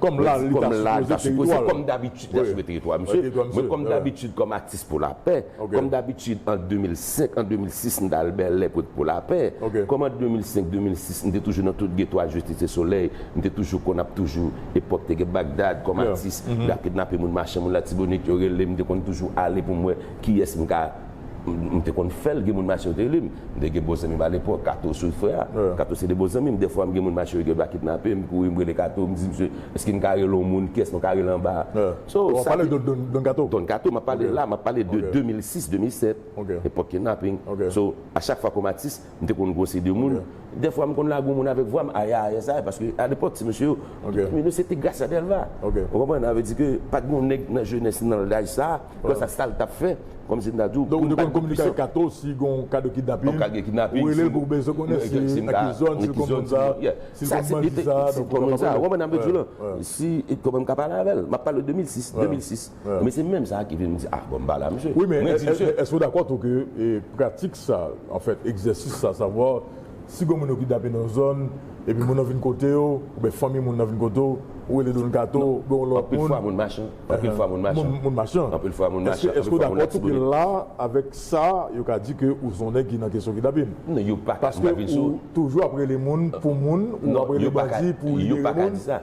Kòm la li ta sipoze, kòm dabitid la sipoze teritwa misye, mwen kòm dabitid kòm atis pou lapè, kòm dabitid an 2005, an 2006 m t al Bèlè pou pou lapè, kòm an 2005, 2006 m te toujou nan tout geto a jwe Tite Solèy, m te toujou konn ap toujou epòk te gen Bagdad kòm atis, y ap kidnape moun mache moun Latibonit yo rele m, m te konn toujou ale pou m wè kiyès m ka. M te konn fè l, gen moun mache yo te rele m. M te gen bon zanmi m alepòk, Kato sou frè a. Kato se 2 bon zanmi m. Dèfwa m gen moun mache yo gen dwa kidnape m, m kouri m rele Kato, m di msye, èske n ka rele yon moun, kiyès nou ka rele anba a? So, sa te. Ou ap pale de Don Kato? Don Kato m ap pale la, m ap pale de 2006, 2007, epòk kidnapping. So, a chak fwa kòm atis, M te konn gwose de moun. Dèfwa m konn lage yon moun avèk vwa m, aya aya sa a, paske alepòk ti mesye yo, men yo se te Gracia Delva. Ou konprann? Sa vle di ke pa t gen yon nèg nan jenès nan laj sa a, lè sa sa l t ap fè, kòmsi m ta di w. Donk ou te konn kominike avèk Kato si gen yon ka de kidnapin? An ka gen kidnapin. Ou rele l pou w bezwen konnen si l nan ki zòn, si l konn moun sa a, si l konn bandi sa a, donk ou kapab rele l. Ou konprann sa m ap di w la? Si, kòman m ka pale avè l? M ap pale w 2006, 2006. Ebyen se menm sa ki vin m di ah bon m pale a misye. Wi men èske ou dakò tou ke pratik sa, anfèt egzèsis sa, savwa si gon moun yo kidnape nan yon zòn epi moun nan vin kote w oubyen fanmi moun nan vin kote w, ou rele Don Kato oubyen yon lòt moun. Anpil fwa moun machan. Anpil fwa moun machan. Moun machan. Anpil fwa moun machan. Èske ou dakò tou ke la avèk sa yo ka di ke ou son nèg ki nan kesyon kidnapin? Non yo paka. Paske ou toujou ap rele moun pou moun, ou ap rele bandi pou libere moun. Yo paka di sa.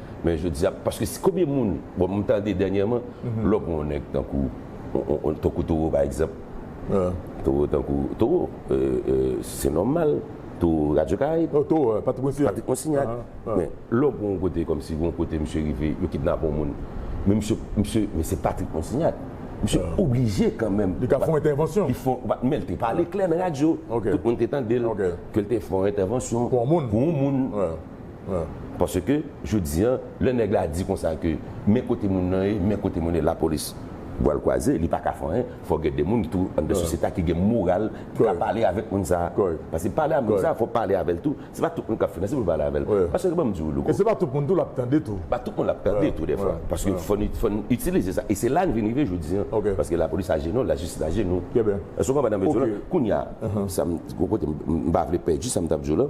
Men jodi a, paske si konbyen moun, bon m tande dènyèman, lè w pran yon nèg tankou, tankou Toro pa egzanp, Toro tankou, Toro, se nòmal, Toro radyo karayib, Oh Toro, Patrik Monsignac, Patrik Monsignac, men lè w pran yon kote kòmsi gon kote misye rive, yo kidnape yon moun, men misye, misye, men se Patrik Monsignac, misye oblije kanmenm, Li ka fè yon entèvansyon, Li fè, men l te pale klè nan radyo, tout moun te tande l, ke l te fè yon entèvansyon, Pou yon moun, Pou yon moun. Paske jodi an lè nèg la di konsa ke men kote moun nan ye, men kote moun ye lapolis bwal kwaze li paka fè anyen fò gen de moun tou anndan sosyete a ki gen moral ki ka pale avèk moun sa paske pale avèk moun sa fò pale avèl tou se pa tout moun kap finanse poul pale avèl paske banm diw louko e se pa tout moun tou lap tande tou pa tout moun lap tande tou dèfwa paske fòn itilize sa e se la n vin rive jodi an paske lapolis ajenou lajistis ajenou èske ou konprann sa m vle diw la kounya gon kote m pa vle pèdi sa m tap diw la.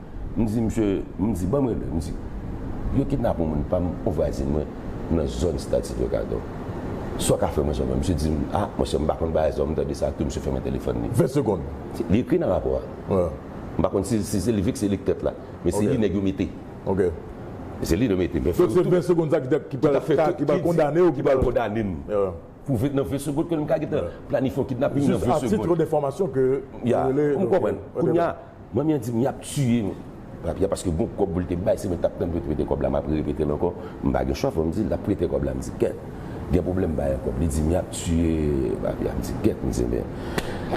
M di misye, m di banm rele, m di yo kidnap yon moun pam, yon vwazin mwen nan zòn stad Sylvio Cator. Sa w ka fè mwen zanmi an? Misye di m, ah monchè m pa konn bagay sa w, m tande sa tou, misye fèmen telefòn li. 20 segond. Li ekri nan rapò a. M pa konn si si se li vik se li k tèt la. Men se li nèg yo mete. Ok. Se li yo mete. Men fè m tou. Donk se 20 segond sa ki tèt ki pral fè ki pral kondane w ki pral kondane m. Pou ve nan 20 segond ke m ka gentan planifye yon kidnaping nan 20 segond. Jis a titre de fòmasyon ke ou rele. Ou konprann. Kounya. Manmi an di m yap tiye m. Papi a paske gon kòb pou l te bay se mwen k tap tann pou yo te prete kòb la map repete l ankò m pa gen chwa fò m di l lap prete kòb la m di kèt gen pwoblèm bay an kòb li di m yap tiye papi a m di kèt m di men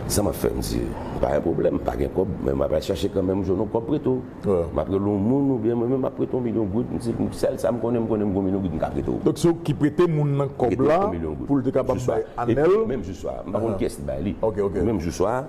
sa map fè m di pa gen pwoblèm m pa gen kòb men map al chache kanmenm m jwenn yon kòb prete w map rele yon moun oubyen mwen menm map prete w yon milyon goud m di sèl sa m konnen m konnen m gon milyon goud m ka prete w. Donk se ou ki prete moun nan kòb la pou l te kapab bay Anèl? Menm jou swa a m pa konn kiyès ki bay li menm jou swa a.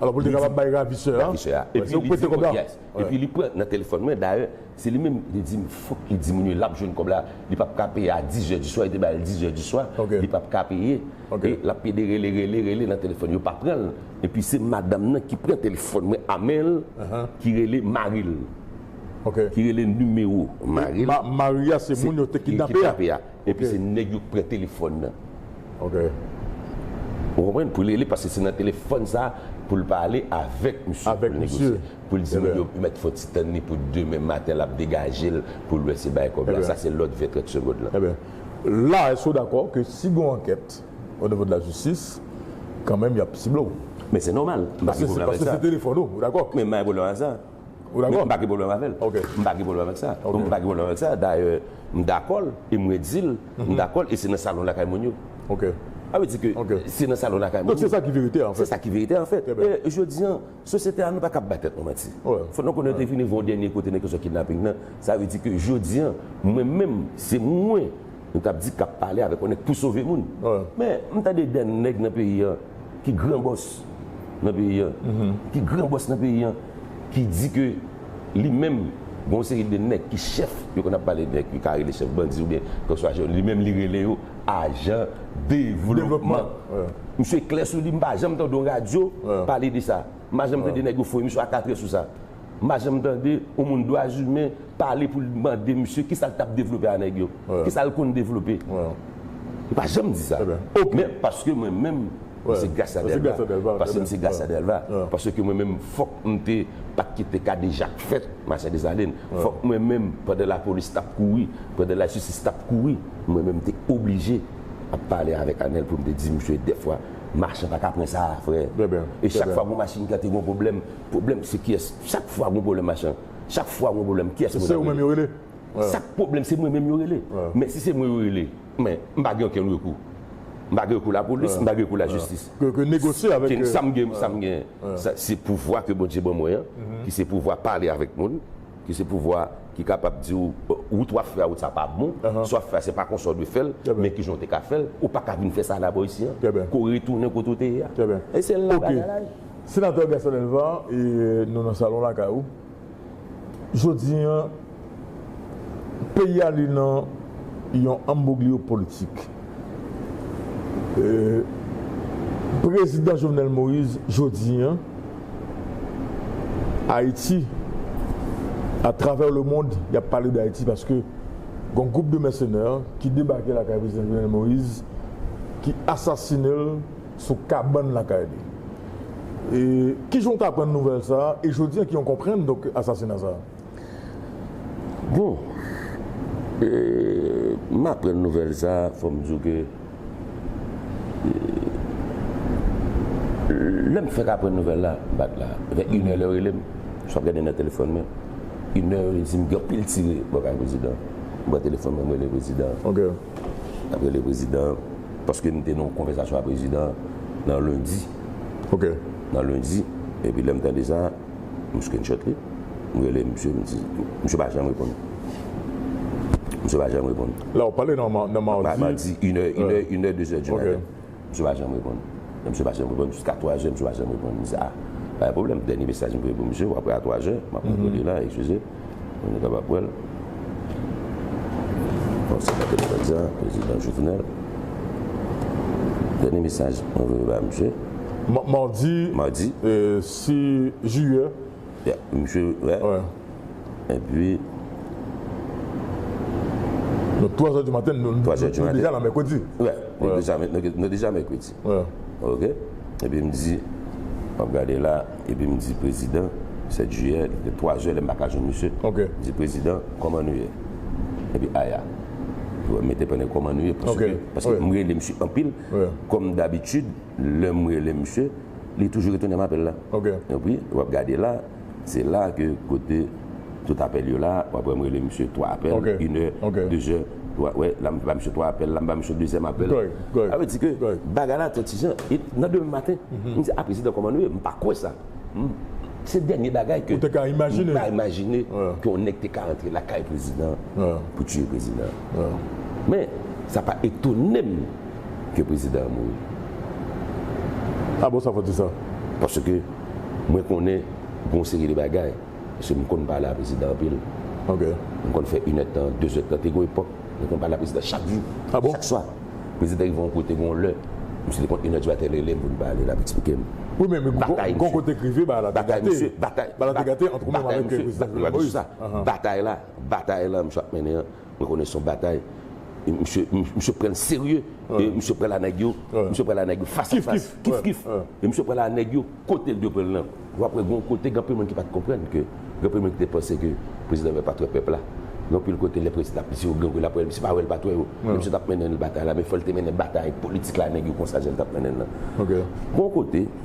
Alò pou l te kapab bay ravisè a. Ravisè a. Epi li di m, yes. Epi li pran nan telefòn mwen. Dayè, se li menm li di m fòk li diminye, l ap jwenn kòb la. Li p ap ka peye a dizè diswa. Yo te bay l dizè diswa. Li p ap ka peye. E l ap pede rele, rele, rele nan telefòn. Yo pa pran l. Epi se madanm nan ki pran telefòn mwen a men l, ki rele mari l. Ki rele nimewo mari l. Mari a se moun yo te kidnape a. Epi se nèg yo ki pran telefòn nan. Ok. Ou konprann? Pou l rele paske se nan telefòn sa pou l pale avèk misye. Avèk misye. Pou l negosye. Pou l di nèg yo mèt fò ti tann li pou demen maten l ap degaje l pou l wè si bay kòb la. Sa se lòd 20 trant segond lan. Ebyen, la èske ou dakò ke si gen yon ankèt onivo de la jistis, kanmenm y ap sible w? Men se nòmal. M pa gen pwoblèm avèk sa. Paske se telefòn ou. Ou dakò? Men m pa gen pwoblèm avèk sa. Ou dakò? M pa gen pwoblèm avè l. Ok. M pa gen pwoblèm avèk sa. Ok. M pa gen pwoblèm avèk sa. Dayè, m dakò l e m redi l m dakò l e se nan salon lakay moun yo. Ok. Sa vle di ke Ok. se nan salon lakay moun yo. Donk se sa ki verite a anfèt. Se sa ki verite a anfèt. Trè byen. E jodi an, sosyete a nou pa kab bay tèt nou manti. Wè. Fòk nou konnen te vini gen yon dènye kote nan kesyon kidnaping nan. Sa vle di ke jodi an, mwen menm, se mwen. Nou kap di kap pale avek yon neg pou sove moun men m tande de neg nan peyi an ki gran bos nan peyi an ki gran bos nan peyi an ki di ke li menm gen yon seri de neg ki chef yo konn ap pale de neg yo ka rele chef bandi oubyen kèlkeswa je li menm li rele yo ajan devlopman misye klè sou li m pa janm tande yon radyo pale de sa m pa janm tande neg yo foye misye a katre sou sa. M pa janm tande yon moun dwazimen pale pou l mande misye kisa l t ap devlope a nèg yo, kisa l konn devlope. Yo pa janm di sa. O men paske mwen menm m se Gracia Delva, paske m se Gracia Delva, paske mwen menm fòk m te pa t kite kadejak fèt Machan Desalin, fòk mwen menm pandan lapolis t ap kouri, pandan lajistis t ap kouri, mwen menm m te oblije ap pale avèk Anèl pou m te di misye dèfwa machan pa ka pran sa a frè. E chak fwa gon machin ki ante gon pwoblèm Pwoblèm se kiyès chak fwa gen yon pwoblèm machan chak fwa gen yon pwoblèm kiyès mwen ta rele chak pwoblèm se mwen menm yo rele men si se mwen yo rele men m pa gen okenn rekou m pa gen rekou lapolis m pa gen rekou lajistis sa m gen sa m gen se pouvwa ke Bondye ban mwen an ki se pouvwa pale avèk moun ki se pouvwa ki kapab di w wout w ap fè a wout sa pa bon sa w ap fè a se pa konsa w dwe fè l men kijan w te ka fè l ou pa ka vin fè sa la bò isi an ke w retounen kote w te ye a e se la bagay la ye. Senatè Gaston Delva e nou nan salon lakay ou jodi an peyi a li nan yon anbwoglyo politik e prezidan Jovenel Moïse jodi an Ayiti a travè le mond yap pale de Ayiti paske gon gwoup de mèsenè ki debake lakay prezidan Jovenel Moïse ki asasine l. sou kabann lakay li. E kijan ou k aprann nouvèl sa a e jodi an kijan ou konprann donk asasina sa a? Bon, e m aprann nouvèl sa a fò m di w ke lè m fèk aprann nouvèl la m pa t la. Vè inè lè yo rele m, si w ap gade nan telefòn mwen, inè yo di m gen anpil tire bò kay prezidan. M pran telefòn mwen m rele prezidan. Nap rele prezidan an. Paske m te nan yon konvèsasyon a prezidan an nan lendi. Ok. Nan lendi. Epi lè m tande sa, m screenshot li. M rele misye, m di. Misye pa janm reponn. Misye pa janm reponn. La ou pale nan madi. Madi, inè, inè, inè, dezè di maten. Ok. Misye pa janm reponn. Lè misye pa janm reponn jiska 3 zè misye pa janm reponn. M di a, pa gen pwoblèm, dènye mesaj m voye pou misye, w'ap wè a 3 zè, m'ap montre li la, eskize, pou nou kapab wè l. Bon, se pa telefòn sa, Prezidan Jovenel. Dènye mesaj mwen voye ba misye. Madi 6 jiyè. Misye wè epi. Donk 3 zè di maten nou deja nan mèkredi. Wè nou deja mèkredi ok epi m di map gade la epi m di prezidan 7 jiyè li te 3 zè lèm paka jwenn misye m di prezidan kòman nou ye epi aya li wèm mete panne kòman nou ye paske m rele misye anpil kòm dabitid lèm rele misye. Li toujou retounem apèl la. Ok. Epi wap gade la, se la ke kote tout apèl yo la, wap wèm rele misye 3 apèl, Ok. Une heure, Ok. deux heures, wa wè la mba misye 3 apèl, la mba misye dezyèm apèl. Kòrèk, kòrèk. Sa vle di ke Kòrèk. bagay la trè tijan. E nan demen maten, m di, a prezidan kòman nou ye? M pa kwè sa. M Se dènye bagay ke Ou te ka imajine. m pa imajine Wè. ke yon nèg te ka rantre lakay prezidan Wè. pou tiye prezidan. Wè. Men, sa pa etonem. ke prezidan an mouri. Ah bon sa fò di sa? Paske mwen konnen gon seri de bagay, paske m konn pale a prezidan anpil. Ok. M konn fè inè tan, de zè tan. Te gon epòk mwen konn pale a prezidan chak jou, Ah bon? chak swa. Prezidan rive yon kote gon lè, misye te konn inè di maten rele m pou n pale, l ap eksplike m. Wi men gon kote k rive bagay la te gate. Batay misye, batay. Bagay la te gate antr ou menm avèk prezidan Jovenel Moïse. Batay la, batay la misye ap mennen an. Mwen konnen son batay Misye pranl serye e misye pral a nèg yo Misye pral a nèg yo fas a fas Kif kif E misye pral a nèg yo kotel dwe pranl nan Ou ap wè gon kote ganpil moun ki pat konprann ke Ganpil moun ki te panse ke Prezidan Weber pat wè pèp la Ganpil kote lè prezidan ap di yo gangoun ap wè Misye pa wèl pat wè yo E misye tap mennen batay la men fòl te mennen batay politik la a nèg yo konsa jan li tap mennen nan Gon kote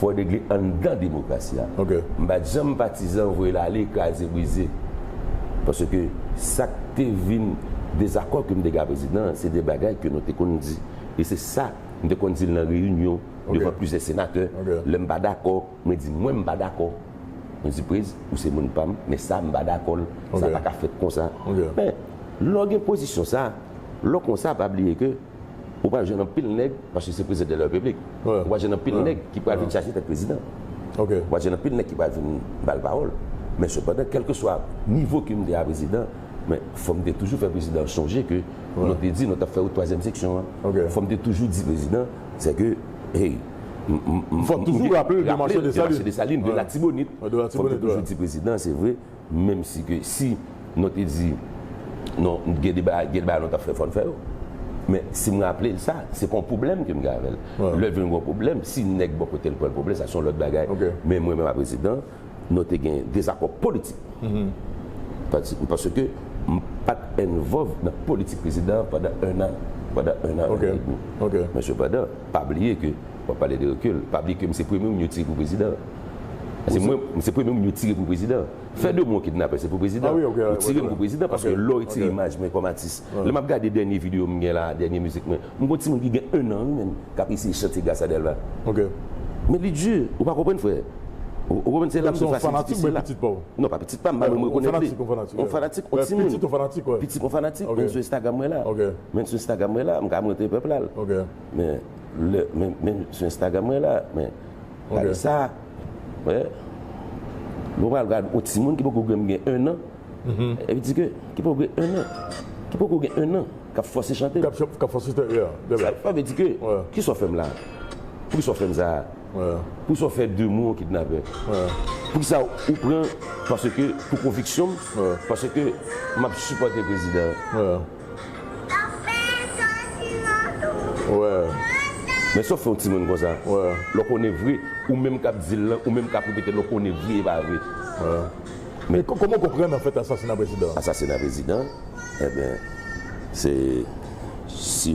Fo regle anndan demokrasi a. M pat janm patizan voye l ale kraze brize. Paske sa k te vin dezakò ke m te gen a prezidan an se de bagay ke nou te konn di. E se sa m te konn di l nan reyinyon devan plizyè senatè. Lè m pa dakò, mwen di mwen m pa dakò. Mwen di prez, ou se moun pa m, men sa m pa dakò l. Sa pa ka fèt konsa. Men, lè w gen pozisyon sa, lè w konsa pa bliye ke. Ou pral jwenn anpil nèg, paske se prezidan de la repiblik, ou pral jwenn anpil nèg ki pral vin chache tèt prezidan. Ou pral jwenn anpil nèg ki pral vin ba l pawòl. Men sepandan, kèlkeswa nivo ke m te a prezidan, men fò m te toujou fè prezidan an sonje ke nou te di nou t ap fè wout twazyèm seksyon an. Fò m te toujou di prezidan, sè ke, hey, m. Fò m toujou raple l de Marche Desalin. De Marche Desalin, de Latibonit. Fò m te toujou di prezidan, se vre. Menm si ke si non te di non gen de bagay gen de bagay nou tap fè fòn fè yo men si m raplel sa se pa yon pwoblèm ke m gen avèl lèl vin gon pwoblèm si nèg bò kotel pranl pwoblèm sa se yon lòt bagay men mwen menm a prezidan nou te gen dezakò politik paske m pat envòv nan politik prezidan pandan 1 an pandan 1 an 1 an edmi men sepandan pa bliye ke. Wap pale de rekil. Pa bliye ke m se premye moun yo tire pou prezidan. Se mwen, m se premye moun yo tire pou prezidan. Fè de mwen yon kidnapè se pou prezidan. Yo tire m pou prezidan paske lè w retire imaj mwen kòm atis. Lè map gade dènye videyo m gen la, dènye mizik mwen, m gen yon timoun ki gen 1 an wi menm kap eseye chante Gracia Delva. Men li di, ou pa konprann frè. Ou konprann se la m te fasil di ke se la. Non pa pitit pa m, m pa menm rekonèt li. Yon fanatik, yon timoun. Pitit yon fanatik, yon fanatik. Menm sou Instagram mwen la. Menm sou Instagram mwen la, m ka montre pèp la l. Men. Lè men sou instagram mwen la men gade sa wè mwen pral gad yon timoun ki poko menm gen 1 an epi di ke ki poko gen 1 an ki poko gen 1 an kap fòse chante kap fòse chante ya sa vle di ke kisa w fè m la poukisa w fè m sa poukisa w fè de mwen yon kidnapè poukisa ou pran paske pou konviksyon m paske map sipòte prezidan. Men sa w fè yon timoun konsa? Lè w konnen vre, ou menm k ap di l lan, ou menm k ap repete l lan, w konnen vre e pa vre. Men kòman w konprann anfèt asasina prezidan an? Asasina prezidan an? Enben, se si.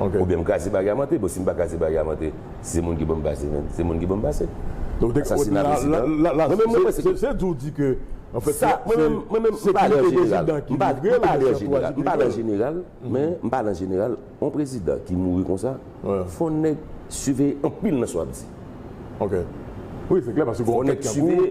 Oubyen m kraze barye a monte. Bon si m pa kraze barye a monte, si se moun ki pou m pase menm, se moun ki pou m pase. Asasina prezidan. Mwen menm mwen panse ke. Se di w di ke anfèt se. Mwen menm mwen menm m pale an jeneral. M pale an jeneral. M pale an jeneral. Men m pale an jeneral. Yon prezidan ki mouri konsa, fò nèg siveye anpil nan sa w ap di. Ok. Wi se klè paske gon kèk tankou.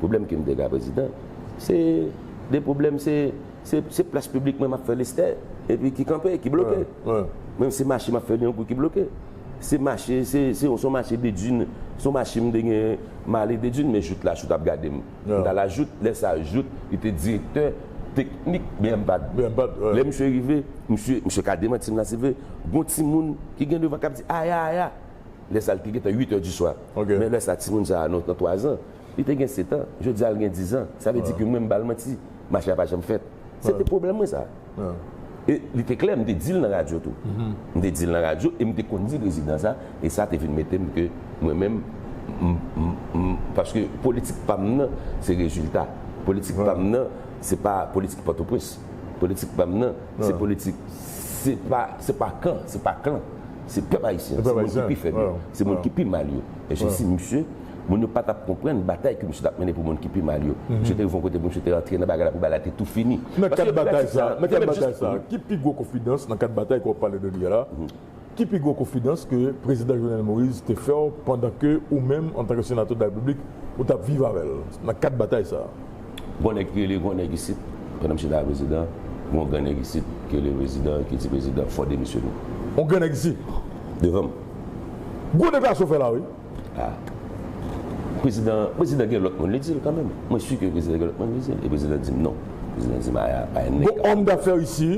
Pwoblèm ke m te gen a prezidan, se 2 pwoblèm, se se plas piblik mwen m ap fè Lestè, epi ki kanpe, ki bloke. Mwen se mache m ap fè Liankou ki bloke. Se mache, se yon son mache de dun, son mache m te gen, m ale de dun, men Jout la, Jout ap gade m. M ta la Jout, lè sa Jout, li te direktè teknik BMPAD. Lè misye rive, misye, misye ka demanti m la si l vle, gon timoun ki gen devan k ap di aya, aya. Lè sa li te gentan 8 è di swa. Men lè sa timoun sa a nan 3 zan. Li te gen setan, jodi a li gen dizan. Sa vle di ke mwen m ba l manti. Mache a pa janm fèt. Se te pwoblèm mwen sa. E li te klè, m te di l nan radyo tou. M te di l nan radyo e m te konn di prezidan sa. E sa te vin mete m ke mwen menm m paske politik pa m nan se rezilta. Politik pa m nan se pa politik Pòtoprens. Politik pa m nan se politik se pa se pa kan, se pa klan. Se pèp ayisyen. Se moun ki pi fèb yo. Se moun ki pi mal yo. E je si misye. Moun yo pa t ap konprann batay ke misye t ap mennen pou moun ki pi mal yo. Misye te rive yon kote pou misye te rantre nan bagay la pou bagay la te tou fini. Nan kad batay sa a, nan kad batay sa a, ki pi gwo konfidans nan kad batay ke w ap pale de li a la, ki pi gwo konfidans ke Prezidan Jovenel Moïse te fè w pandan ke ou menm antanke Senatè de la République ou t ap viv avè l nan kad batay sa a? Gon nèg ki rele gran nèg isit, pandan misye ta Prezidan, gon gran nèg isit ki rele Prezidan, ki di Prezidan, fò demisyone. Yon gran nèg isit? Devan m. Gwo deklarasyon w fè la wi! Ah prezidan, prezidan gen lòt moun li di l kanmenm. Mwen si ke prezidan gen lòt moun li di l. E prezidan di m non. Prezidan di m aya pa yon nèg Gon kap. òm dafè isi,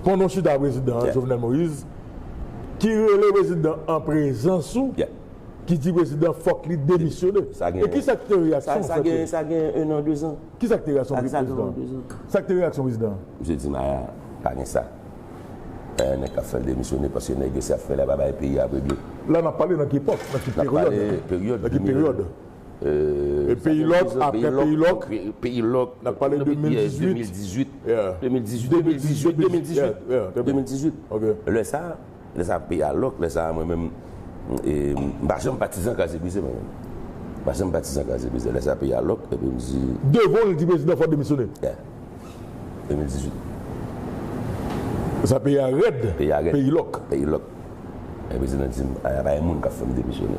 pandan w chita prezidan an, Jovenel Moïse, ki rele prezidan an prezans ou, ki di prezidan fòk li demisyone. Sa gen. E ki sa ki te reyaksyon w fèt yo? Sa gen ennan dezan. Ki sa ki te reyaksyon prezidan an? Sa ki te reyaksyon prezidan an? Misye di m aya pa gen sa. Eeh nèg kap fèl demisyone paske nèg yo se ap fè la pa bay peyi a regle. La nap pale nan ki epòk, nan ki peryòd, nan ki peryòd? Eee peyi lòk aprè peyi lòk, peyi lòk nap pale 2018, 2018, 2018, 2018, 2018, 2018 ok lè sa, lè sa peyi a lòk lè sa mwen menm m pa janm patizan kraze brize mwen menm, m pa janm patizan kraze brize lè sa peyi a lòk epi m di. Devan l di prezidan fò demisyone. 2018 Sa peyi a rèd Peyi lòk Peyi lòk Epi prezidan di m a pa gen moun k ap fè m demisyone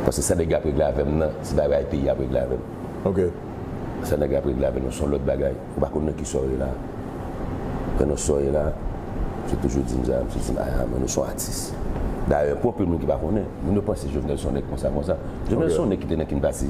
Paske sa nèg yo ap regle avè m nan se pa bagay peyi a ap regle avè m Sa nèg yo ap regle avè nou se yon lòt bagay Ou pa konn nan ki sa w ye la Mwen nan sa w ye la Misye toujou di m sa Misye di m aya mwen nou se yon atis Dayè pou anpil moun ki pa konnen Moun yo panse Jovenel se yon nèg konsa konsa Jovenel se yon nèg ki te nan kin pati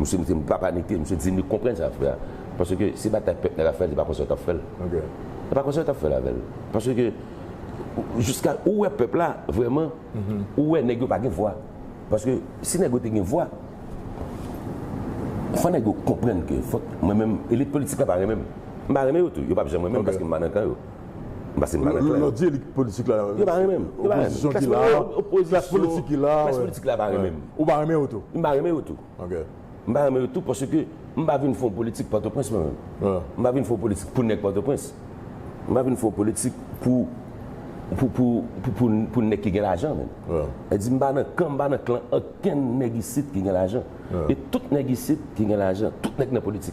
Misye mete m papa mete misye di li konprann sa lap fè a paske se batay pèp nèg ap fè li pa konsa yo tap fèl li pa konsa yo tap fèl avèl paske jiska ou wè pèp la vrèman ou wè nèg yo pa gen vwa paske si nèg yo te gen vwa fò nèg yo konprann ke fòk mwen menm elit politik la pa renmen m m pa renmen yo tou yo pap janm renmen m paske m pa nan kan yo. Pase m pa wè klè. Lò di elit politik la. Yo pa renmen m. Opozisyon ki la. Klas politik ki la. Klas politik la pa renmen m. Ou pa renmen yo tou. M pa renmen yo tou. Ok. M pa renmen yo tou paske m pa vin fè yon politik Pòtoprens mwen menm. M pa vin fè yon politik pou nèg Pòtoprens. M pa vin fè yon politik pou pou nèg ki gen lajan menm. Sa di m pa nan kan, m pa nan klan okenn nèg isit ki gen lajan. E tout nèg isit ki gen lajan, tout nèg nan politik.